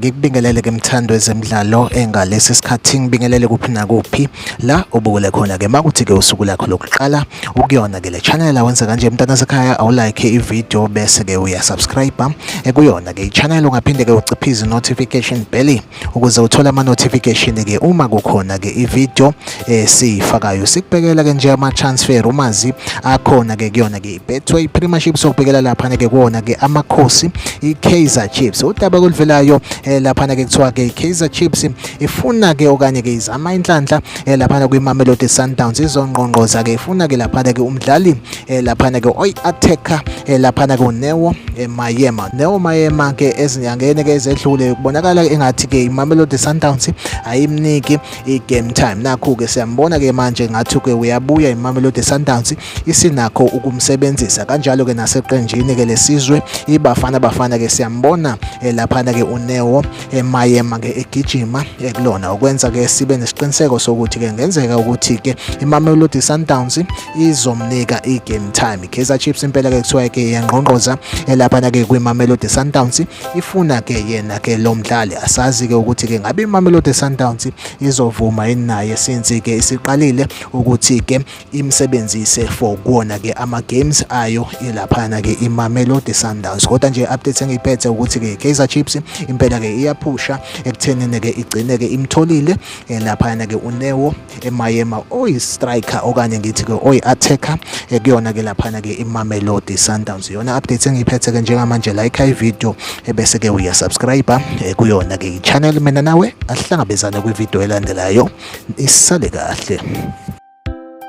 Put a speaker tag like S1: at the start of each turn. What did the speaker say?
S1: ngikubingelele ke mthando ezemidlalo engalesi eh, sikhathi ngibingelele kuphi nakuphi la ubukele khona ke makuthi ke usuku lakho lokuqala ukuyona ke le channel awenza kanje mntana sekhaya awulike ivideo bese ke uyasubscribe ekuyona eh, ke ichannel ungaphinde ke uciphize notification bell ukuze uthole ama notification ke uma kukhona ke i video esiyifakayo eh, sikubhekela ke nje ama transfer umazi akhona ke kuyona ke Betway Premiership sokubhekela lapha ke kuona ke amakhosi i Kaizer Chiefs udaba kulivelayo eh, lapha ke kuthiwa ke Kaizer Chiefs ifuna ke okanye ke izama inhlanhla eh, lapha kwi Mamelodi Sundowns izongqongqoza ke ifuna ke lapha ke umdlali eh, laphana ke oy attacker eh, laphana ke uNeo eh, Mayema Neo Mayema ke ezinyangeni ke ezedlule kubonakala engathi ke iMamelodi Sundowns ayimniki igame time nakho ke siyambona ke manje ngathi ke uyabuya iMamelodi Sundowns isinakho ukumsebenzisa kanjalo ke naseqenjini ke lesizwe ibafana bafana ke siyambona eh, laphana ke uNeo eh, Mayema ke egijima eh, kulona okwenza ke sibe nesiqiniseko sokuthi ke ngenzeka ukuthi ke iMamelodi Sundowns izomnika i-game time i-kaizer chiefs impela ke kuthiwa ke yangqongqoza elaphana ke kwimamelodi sundowns ifuna ke yena ke lo mdlali asazi ke ukuthi ke ngabe imamelodi sundowns izovuma yini naye since ke isiqalile ukuthi ke imsebenzise for kuwona ke ama-games ayo ilaphana ke imamelodi sundowns kodwa nje update engiyiphethe ukuthi ke kaizer chiefs impela ke iyaphusha ekuthenini ke igcine ke imtholile elaphana ke unewo emayema oyi-striker okanye ngithi-ke oyi-attacker eh, kuyona-ke laphana-ke imamelodi sundowns yona update engiyiphethe-ke njengamanje like ivideo ebese-ke eh, uyasubscribe eh, kuyona-ke i-channel mina nawe asihlangabezane kwivideo elandelayo isale kahle